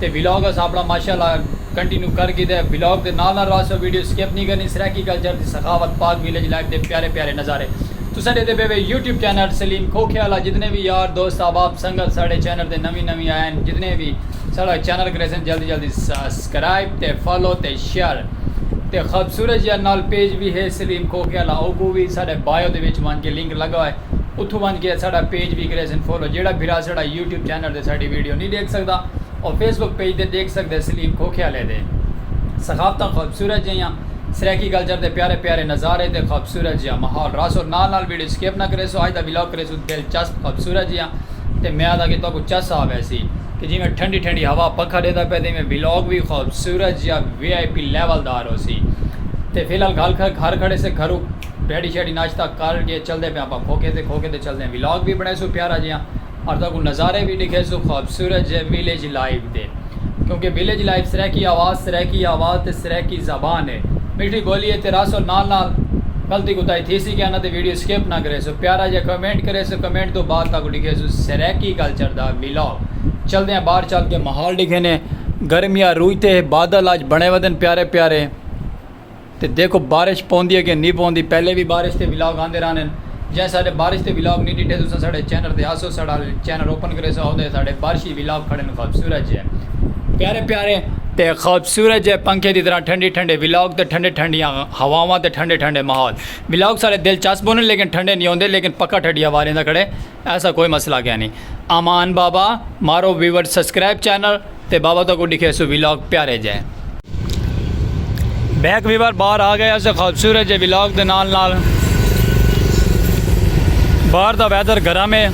تے ولاگ اساں اپنا ماشاء اللہ کنٹینیو کر گھیدے ولاگ دے نال نال رہاسو ویڈیو سکپ نی کرنی سرائیکی کلچر دی سخاوت پاک ویلیج لائف دے پیارے پیارے نظارے تساں ڈیدے پے وے یوٹیوب چینل سلیم کھوکھے آلا جتنے وی یار دوست احباب سنگت ساڈے چینل دے نویں نویں آئے ہن جتنے وی ساڈا چینل کریسن جلدی جلدی سسکرائب تے فالو تے شیئر تے خوبصورت جیہا نال پیج وی ہے سلیم کھوکھے آلا اوکوں وی ساڈے بائیو دے وچ ونج کے لنک لگا ہوئے۔ اتھوں ونج کے اساڈا پیج وی کریسن فالو جیڑھا بھرا اساڈا یوٹیوب چینل تے ساڈی ویڈیو نی ڈیکھ سکدا او فیس بک پیج تے ڈیکھ سکدے سلیم کھوکھیالے دے ثقافتاں خوبصورت جیہاں سرائیکی کلچر دے پیارے پیارے نظارے تے خوبصورت جیہاں ماحول رہسو نال نال ویڈیو سکپ نہ کریسو اج دا ولاگ کریسو دلچسپ خوبصورت جیہاں تے میاد آ کے تہاکوں چس آ ویسی کہ جیویں ٹھنڈی ٹھنڈی ہوا پکھا ڈیندا پئے تے ایویں ولاگ وی خوبصورت جیہاں وی آئی پی لیول دار ہوسی تے فی الحال گھر کھڑے سے گھرو ڈیڈی شیڈی ناشتہ کر کے چلدے پیاں اپاں کھوکھے تے کھوکھے تے چلدے ہیں ولاگ وی بنڑیسوں پیارا جیاں اور تہاکوں نظارے وی ڈکھیسوں خوبصورت جے ویلیج لائف دے کیونکہ ویلیج لائف سرائیکی آواز سرائیکی آواز تے سرائیکی زبان ہے میٹھی بولی ہے تے رہسو نال نال غلطی کوتاہی تھیسی کہناں تے ویڈیو سکپ نہ کریسو پیارا جیاں کمنٹ کریسو کمنٹ توں بعد تہاکوں ڈکھیسوں سرائیکی کلچر دا ولاگ چلدے ہیں باہر چل کے ماحول ڈکھینے گرمیاں روج تے بادل آج بنے ودن پیارے پیارے۔ تے دیکھو بارش پوندی ہے کہ نی پوندی پہلے وی بارش دے ولاگ آندے رہن ہن جیں ساڈے بارش دے ولاگ نی ڈیٹھے تساں ساڈے چینل تے آسو ساڈا چینل اوپن کریسو اودے ساڈے بارشی ولاگ کھڑن خوبصورت جے پیارے پیارے تے خوبصورت جے پنکھے دی طرح ٹھنڈی ٹھنڈے ولاگ تے ٹھنڈے ٹھنڈیاں ہواواں تے ٹھنڈے ٹھنڈے ماحول ولاگ ساڈے دلچسپ ہن لیکن ٹھنڈے نی ہوندے لیکن پکا ٹھڈی ہوا ریندا کھڑے ایسا کوئی مسئلہ کینی۔ امان بابا مارو ویورز سبسکرائب چینل تے بابا تکوں ڈکھیسوں ولاگ پیارے جئے۔ بیک ویور باہر آ گئے اسے خوبصورت جے ولاگ دے نال نال باہر دا ویدر گرم ہے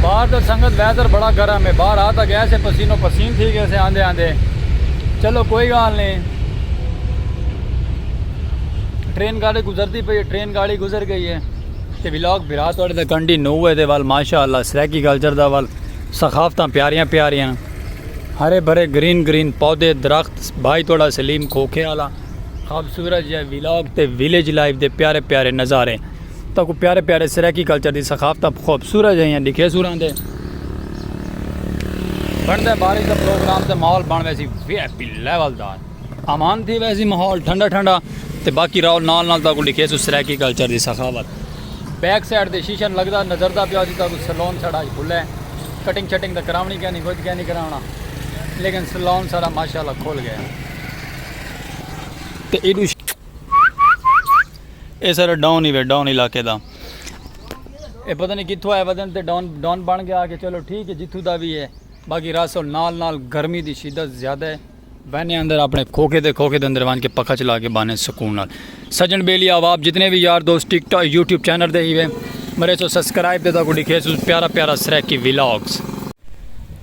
باہر دا سنگت ویدر بڑا گرم ہے باہر آتا گیا سے پسینو پسین تھی گئے سے آندے آندے چلو کوئی گال نہیں ٹرین گاڑی گزرتی پئی ہے ٹرین گاڑی گزر گئی ہے تے ولاگ بھرا توڑے تے کنڈی نو ہے تے وال ماشاءاللہ سریکی کلچر دا وال ثقافتاں پیاریاں پیاریاں ہرے بھرے گرین گرین پودے درخت بھائی توڑا سلیم کھوکھے والا خوبصورت جے ولاگ تے ویلیج لائف دے پیارے پیارے نظارے تاں کو پیارے پیارے سرائیکی کلچر دی ثقافت خوبصورت جے ہیں دکھے سوراں دے بندے بارش دا پروگرام تے ماحول بن ویسی وی آئی پی لیول دا امان تھی ویسی ماحول ٹھنڈا ٹھنڈا تے باقی راو نال نال تاں کو دکھے سو سرائیکی کلچر دی ثقافت بیک سائیڈ دے شیشن لگدا نظر دا پیاسی تاں کو سلون سڑا کھلے ہیں کٹنگ چھٹنگ دا کراونی کہنی کچھ کہنی کراونا لیکن سلون سارا ماشاءاللہ کھول گیا تے ایڈو اے سارا ڈاؤن ہی وے ڈاؤن علاقے دا اے پتہ نہیں کتھوں آئے ودن تے ڈاؤن ڈاؤن بن گیا کہ چلو ٹھیک ہے جتھوں دا بھی ہے باقی راسل نال نال گرمی دی شدت زیادہ ہے بہنے اندر اپنے کھوکے دے کھوکے دے اندر وان کے پکا چلا کے بانے سکون نال سجن بیلی آواب جتنے بھی یار دوست ٹک ٹاک یوٹیوب چینل دے ہی وے مرے سو سبسکرائب دے دا کو ڈکھے سو پیارا پیارا سریکی ویلاگز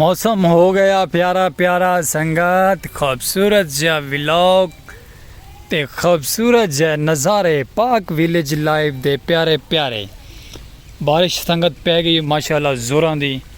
موسم ہو گیا پیارا پیارا سنگت خوبصورت جا ولاگ تے خوبصورت جا نظارے پاک ویلیج لائیو دے پیارے پیارے بارش سنگت پہ گئی ماشاءاللہ زوراں دی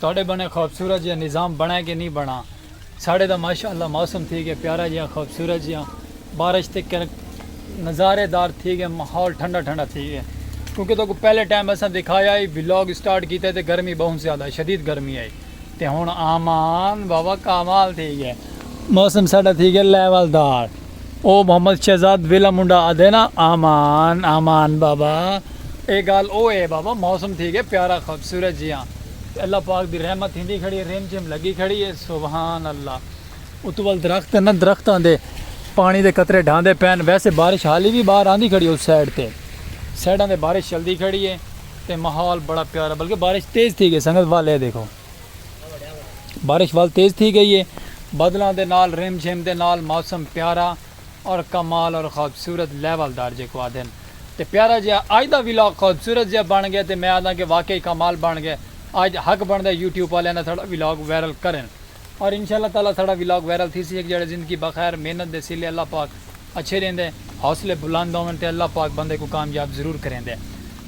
تہاڈے بنے خوبصورت جیہاں نظام بنڑا کہ نی بنڑا ساڈے تاں ماشاء اللہ موسم تھی گیا پیارا جیہاں خوبصورت جیہاں بارش تے کنڑک نظارے دار تھی گئے ماحول ٹھنڈا ٹھنڈا تھی گئے کیونکہ تہاکوں پہلے ٹائم اساں دکھایا ہئی ولاگ اسٹارٹ کیتے تے گرمی بہوں زیادہ شدید گرمی ہئی تے ہنڑ آمان بابا کمال تھی گئے موسم ساڈا تھی گئے لیول دار۔ او محمد شہزاد ویلا منڈا آدھے نا آمان آمان بابا اے گال او اے بابا موسم تھی گئے پیارا خوبصورت جیاں تے اللہ پاک دی رحمت تھیندی کھڑی اے رم جھم لگی کھڑی اے سبحان اللہ اتو ول درخت اے نا درختاں دے پانی دے قطرے ڈھاندے پین ویسے بارش حالی وی باہر آندی کھڑی اس سائیڈ تے سائیڈاں تے بارش چلدی کھڑی اے تے ماحول بڑا پیارا بلکہ بارش تیز تھی گئے سنگت ول اے دیکھو۔ بارش ول تیز تھی گئی ہے بدلاں دے نال رم جھم دے نال موسم پیارا اور کمال اور خوبصورت لیول دار جیکو آدھن تے پیارا جیا اج دا ولاگ خوبصورت جیا بن گیا تے میں آدھاں کہ واقعی کمال بن گیا اج حق بندا ہے یوٹیوب آلیاں دا ساڈا ولاگ وائرل کرن اور انشاءاللہ تعالی ساڈا ولاگ وائرل تھیسی ہک جیڑھے زندگی بخیر محنت دے صلے اللہ پاک اچھے ڈیندے حوصلے بلند ہون تے اللہ پاک بندے کوں کامیاب ضرور کریندے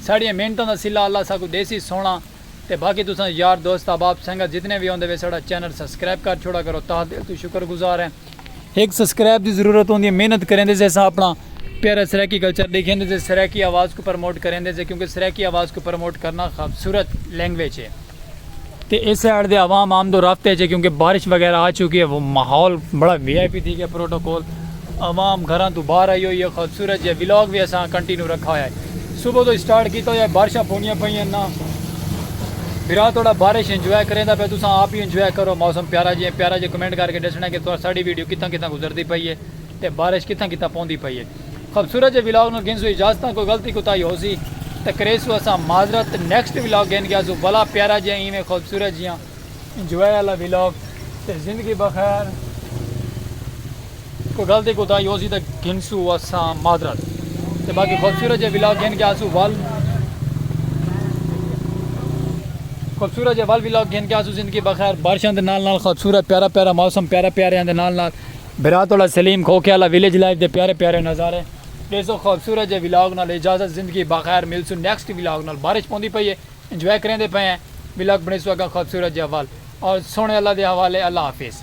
ساڈیاں محنتاں دا صلہ اللہ اساکوں دیسی سونا تے باقی تساں یار دوست احباب سنگت جتنے وی ہوندے وے ساڑا چینل سبسکرائب کر چھوڑا کرو تہا دل توں شکر گزار ہیں ہک سبسکرائب دی ضرورت ہوندی ہے محنت کریندے سے اساں اپنا پیارا سرائیکی کلچر ڈیکھیندے سے سرائیکی آواز کوں پرموٹ کریندے سے کیونکہ سرائیکی آواز کوں پرموٹ کرنا خوبصورت لینگویج ہے تے اس سائیڈ دے عوام آمد و رفت اچ ہے کیونکہ بارش وغیرہ آ چکی ہے ماحول بڑا وی آئی پی تھی گیا پروٹوکول عوام گھراں توں باہر آئی ہوئی ہے خوبصورت جیہا ولاگ وی اساں کنٹینیو رکھا ہویا ہے صبح توں سٹارٹ کیتا ہویا ہے بارشاں پوندیاں پئیاں نا بھرا تہاڈا بارش انجوائے کریندا پئے تساں آپ وی انجوائے کرو موسم پیارا جیہا پیارا جیہا کمنٹ کر کے ڈسنا کہ تساں ساڈی ویڈیو کتھاں کتھاں گزردی پئی ہے تے بارش کتھاں کتھاں پوندی پئی ہے خوبصورت جیہے ولاگ نال گھنسوں اجازتاں کوئی غلطی کوتاہی ہوسی تے کریسوں اساں معذرت نیکسٹ ولاگ گھن گیاسوں بھلا پیارا جیہا ایویں خوبصورت جیہاں انجوائے آلا ولاگ تے زندگی بخیر کوئی گل دی کوتاہی ہوسی تے گھنسو اساں معذرت تے باقی خوبصورت جے ولاگ گھن کے آسو ول خوبصورت جے ول ولاگ گھن کے آسو زندگی بخیر بارشاں دے نال نال خوبصورت پیارا پیارا موسم پیارا پیاریاں دے نال نال برات والا سلیم کھوکھے والا ویلیج لائف دے پیارے پیارے نظارے ڈیسو خوبصورت جے ولاگ نال اجازت زندگی بخیر ملسو نیکسٹ ولاگ نال بارش پوندی پئی ہے انجوائے کریندے پئے ہیں ولاگ بنڑیسو اگاں خوبصورت جا ول اور سوہنے اللہ دے حوالے اللہ حافظ۔